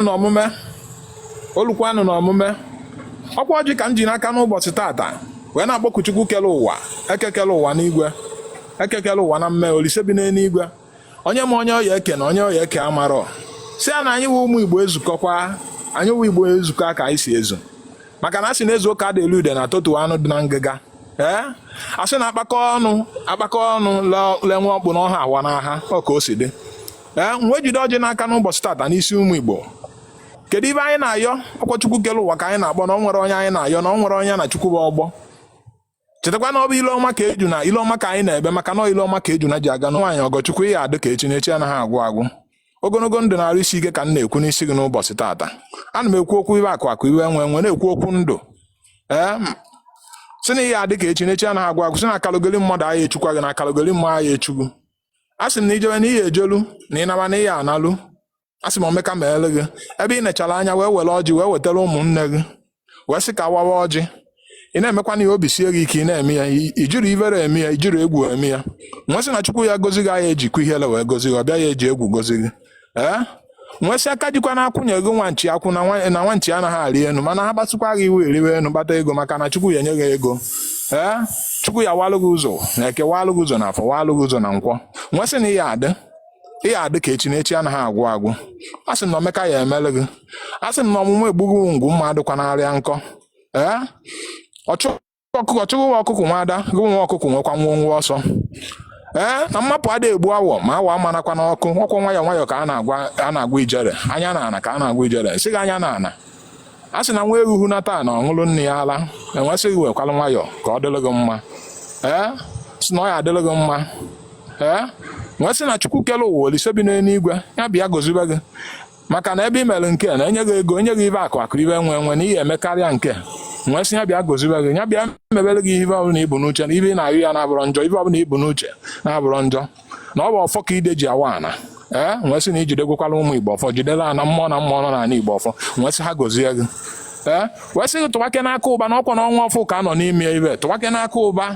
na omume o lukwanụ na omume ọkwa ọjị ka m ji n'aka n'ụbọchị tata wee na-akpọku Chukwu kele ụwa eke kele ụwa n'igwe eke kele ụwa na mme olise bi n'eluigwe onye ma onye ọ ya-eke na onye ọ ya-eke amarọ sị ya na anyị wụ ụmụ Igbo ezukọkwa anyị wụ Igbo ezukọ ka anyị si ezu maka na a sị na e zuo ka adị eli udene a totuo anụ dị na ngịga ee a sị na akpakọ ọnụ akpakọ ọnụ lenwe ọkpụ n'ọha awa n'aha ọ ka o si dị ee eh, m wee jide ọjị n'aka n'ụbọchị tata n'isi ụmụ Igbo kedu ive anyị na-ayọ ọkwa Chukwu kere ụwa ka anyị na-akpọ na o nwere onye anyị na-ayọ na o nwere onye na Chukwu bụ ọgbọ chetakwa na ọ bụ ile ọma ka ejuna ile ọma ka anyị na-ebe maka na ile ọma ka ejuna ji aga na nwaanyị Ọgọchukwu ị ya-adị ka echi na echi anaghị agwụ agwụ ogologo ndụ na arụ isi ike ka m na-ekwu n'isi gị n'ụbọchị taata ana m ekwu okwu ive akụ akụ ive enwe enwe na-ekwu okwu ndụ ee sị na ị ya-adị ka echi na echi anaghị agwụ agwụ sị na akalogoli mmadụ aya echukwa gị na akalogoli mmụọ aya echu gị a sị m na i jebe na ị ya-ejelu na ị naba na ị ya-analu a sị m omeka mele gị ebe i nechara anya wee were ọjị wee wetara ụmụnne gị wee sị ka a wawa ọjị ị na-emekwanụ ya obi sie gị ike ị na-eme ya i jirọ ivere eme ya i jirọ egwu eme ya m wee sị na Chukwu ya-agọzi gị aya ejikwa ihere wee gọzi gị ọ bịa ya eji egwu gọzi gị ee m wee sị aka jikwa na-akwụnye gị nwa nchi akwụ na nwa na nwa nchi anaghị arị enu mana ha kpasukwa gị iwe ị rịwe enu kpata ego maka na Chukwu ya-enye gị ego ee Chukwu ya-awalụ gị ụzọ na eke walụ gị ụzọ na afọ walụ gị ụzọ na nkwọ m wee sị na ị ya-adị ị ya-adị ka echi na echi anaghị agwụ agwụ a sị m na omeka ya-emele gị a sị m na ọmụmụ egbughị ngwu mma adịkwana arịa nkọ ee ọchụ ọkụkọ chụ gị nwa ọkụkọ nwe ada gị nwa ọkụkọ nwekwa nwọ nwọ ọsọ ee na mmapụ ada egbu awọ ma awọ marakwa n'ọkụ ọkwa nwayọọ nwayọọ ka a na-agwa a na-agwa ijere anya na ana ka a na-agwa ijere sị gị anya na ana a sị na nwa eruhu na taa na ọ ṅụlụ nne ya ala m wee sị gị wekwalụ nwayọọ ka ọ dịrị gị mma ee sị na ọ ya-adịrị gị mma ee m wee sị na Chukwu kele ụwa olise bi n'eluigwe ya-abịa gọzibe gị maka na ebe i mere nke a na enye gị ego enye gị ive akụ akụ ive enwe enwe na ị ya-emekarịa nke m wee sị ya bịa gọzibe gị ya bịa mebere gị ive ọbụla i bu n'uche na ive ị na-ayọ ya na-abụrọ njọ ive ọbụla i bu n'uche na-abụrọ njọ na ọ bụ ọfọ ka ide ji awa ana ee m wee sị na i jidegwekwalụ ụmụ Igbo ọfọ jidere ana mmụọ na mmụọ nọ n'ala Igbo ọfọ m wee sị ha gọzie gị ee wee sị gị tụwa aka n'akụ ụba na ọkwa na ọnwa ọfụụ ka a nọ n'ime ibe tụwa aka n'akụ ụba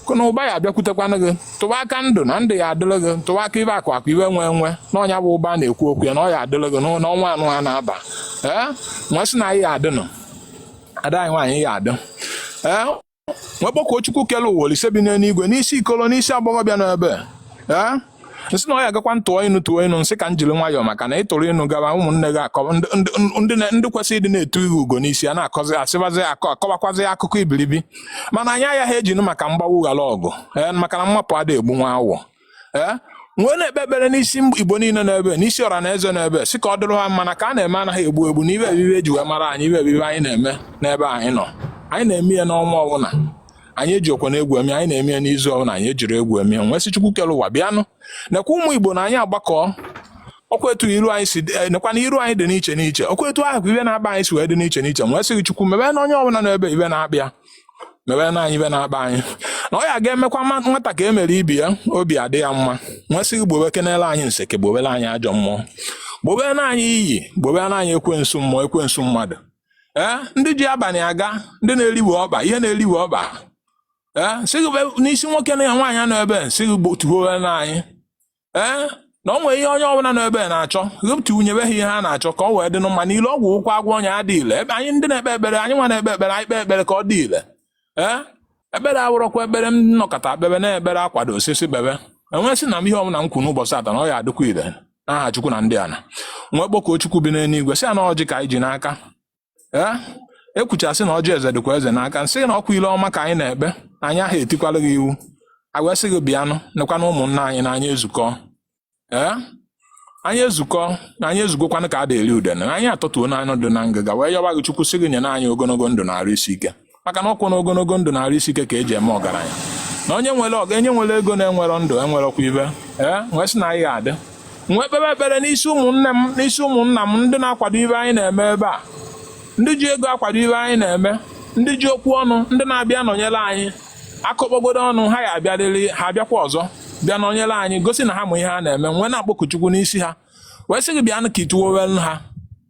akụ na ụba ya-abịakwutekwanụ gị tụwa aka ndụ na ndụ ya-adịrị gị tụwa aka ive akụ akụ ive enwe enwe na nya bụ ụba na-ekwu okwu ya na ọ ya-adịrị gị n'ọ- n'ọnwa anụwa na-aba ee m wee sị na ị ya-adịnụ ada anyị nwaanyị ị ya-adị ee m wee kpọkuo Chukwu kele ụwa olise bi n'eluigwe n'isi ikolo n'isi agbọghọbịa n'ebe ee m sị na ọ ya agakwa m tụọ inu tụọ inu m sị ka m jiri nwayọọ maka na ị tụrụ inu gaba ụmụnne gị akọ ndị kwesịrị ịdị na-etu gị ugo n'isi a na-akọzi asịbazi akọ akọwakwazi akụkọ ibiribi mana anyị agaghị ejinụ maka mgbagbu ghara ọgụ ee maka na mmapụ ada egbu nwa awọ ee m wee na-ekpe ekpere n'isi igbo niile nọ ebe n'isi ọra na eze nọ ebe sị ka ọ dịrị ha mma na ka a na-eme anaghị egbu egbu na ibe ebibe eji wee mara anyị ibe ebibe anyị na-eme n'ebe anyị nọ anyị na-eme ya n'ọnwa ọbụla anyị eji okwe na egwu eme anyị na-eme ya n'izu ọbụla anyị ejiri egwu eme ya m wee sị chukwu kere ụwa bịanụ nekwa ụmụ igbo na anyị agbakọ ọkwa etu iru anyị si eh, nekwa na iru anyị dị n'iche n'iche ọkwa etu ahụ ka ibe na-akpa anyị si wee dị n'iche n'iche m wee sị gị chukwu mebe na onye ọbụla nọ ebe ibe na-akpa ya mebe na anyị ibe na-akpa anyị na ọ ya ga-emekwa nwata ka e mere ibe ya obi adị ya mma m wee sị gị gbobe kenele anyị nseke gbobere anyị ajọ mmụọ gbobere na anyị iyi gbobere na anyị ekwensu mmụọ ekwensu mmadụ ee ndị ji abalị aga ndị na-eriwe ọba ihe na-eriwe ọba ee sị gị be- n'isi nwoke na ya nwaanyị nọ ebe sị gị gbotuo na anyị ee na ọ nwere ihe onye ọbụla nọ ebe na-achọ wepụta nyebe ha ihe ha na-achọ ka ọ wee dị mma na ile ọgwụ wụ ka a gwọọ nya adị ile ebe anyị ndị na-ekpe ekpere anyị nwa na-ekpe ekpere anyị kpee ekpere ka ọ dị ile ee ekpere awụrọkwa ekpere m nọkata kpebe na ekpere a kwadosịsị kpebe m wee sị na m ihe ọbụla m kwu n'ụbọchị taa na ọ ya adịkwa ile n'aha chukwu na ndị ana m wee kpọkuo chukwu bi n'eluigwe sị ya na ọjị ka anyị ji n'aka ee ekwuchasị na ọjị eze dịkwa eze n'aka m sị na ọkwa ile ọma ka anyị na-ekpe anyị aha etikwala gị iwu agwa sị gị bịanụ nekwa na ụmụnna anyị na anyị ezukọ ee anyị ezukọ na anyị ezugokwanụ ka a da-eri udene anyị atọtuo n'anụ dị na ngịga wee yọwa gị chukwu sị gị nye na anyị ogologo ndụ na arụ isi ike maka na ọkwa na ogologo ndụ na arụ isi ike ka eji eme ọgaranya na onye nwere ọga onye nwere ego na-enwerọ ndụ enwerọkwa ibe ee m wee sị na anyị ga-adị m wee kpebe ekpere n'isi ụmụnne m n'isi ụmụnna m ndị na-akwado ibe anyị na-eme ebe a ndị ji ego akwado ibe anyị na-eme ndị ji okwu ọnụ ndị na-abịa nọnyere anyị akọkpọgodo ọnụ ha ya abịarịrị ha abịakwa ọzọ bịa nọnyere anyị gosi na ha ma ihe ha na-eme m wee na-akpọku Chukwu n'isi ha wee sị gị bịanụ ka ituwowelu ha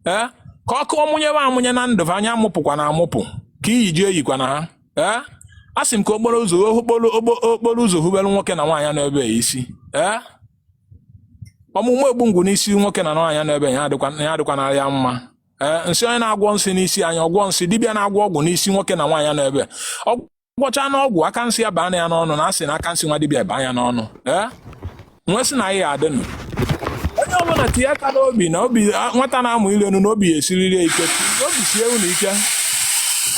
ee ka ọkụ ọmụnyewe amụnye na ndụ anya amụpụkwana amụpụ ka iyi ji eyikwana ha ee a sị m ka okporo ụzọ okporo ụzọ hubelu nwoke na nwaanyị nọ ebe isi ee ọmụmụ egbu ngwụ n'isi nwoke na nwaanyị nọ ebe ya adịkwa na ya mma ee m sị onye na-agwọ nsị n'isi anyị ọgwọ nsị dibịa na-agwọ ọgwụ n'isi nwoke na nwaanyị nọ ebe ọ gwọchana ọgwụ aka nsị ya baa ya n'ọnụ na a sị na aka nsị nwa dibịa baa ya n'ọnụ ee m wee sị na anyị adịnụ onye ọbụla tinye aka n'obi na obi nwata na-amụ ịlị enu na obi ya esiriri ya ike obi sie unu ike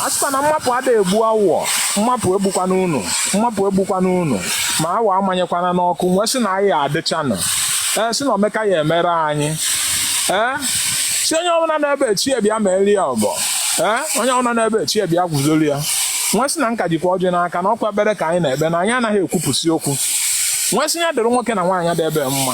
a sịkwa na mmapụ ada egbu awọ mmapụ egbukwana unu mmapụ egbukwana unu ma awọ amanyekwana n'ọkụ m wee sị na anyị adịchanụ ee sị na omeka ya emere anyị ee si onye ọbụla na-ebe chi ya bịa meeli ya ọgọ ee onye ọbụla na-ebe chi ya bịa guzolu ya m wee sị na m ka jikwa ọjị n'aka na ọkwa ekpere ka anyị na-ekpe na anyị anaghị ekwupụsị okwu m wee sị ya dịrị nwoke na nwaanyị dị ebe mma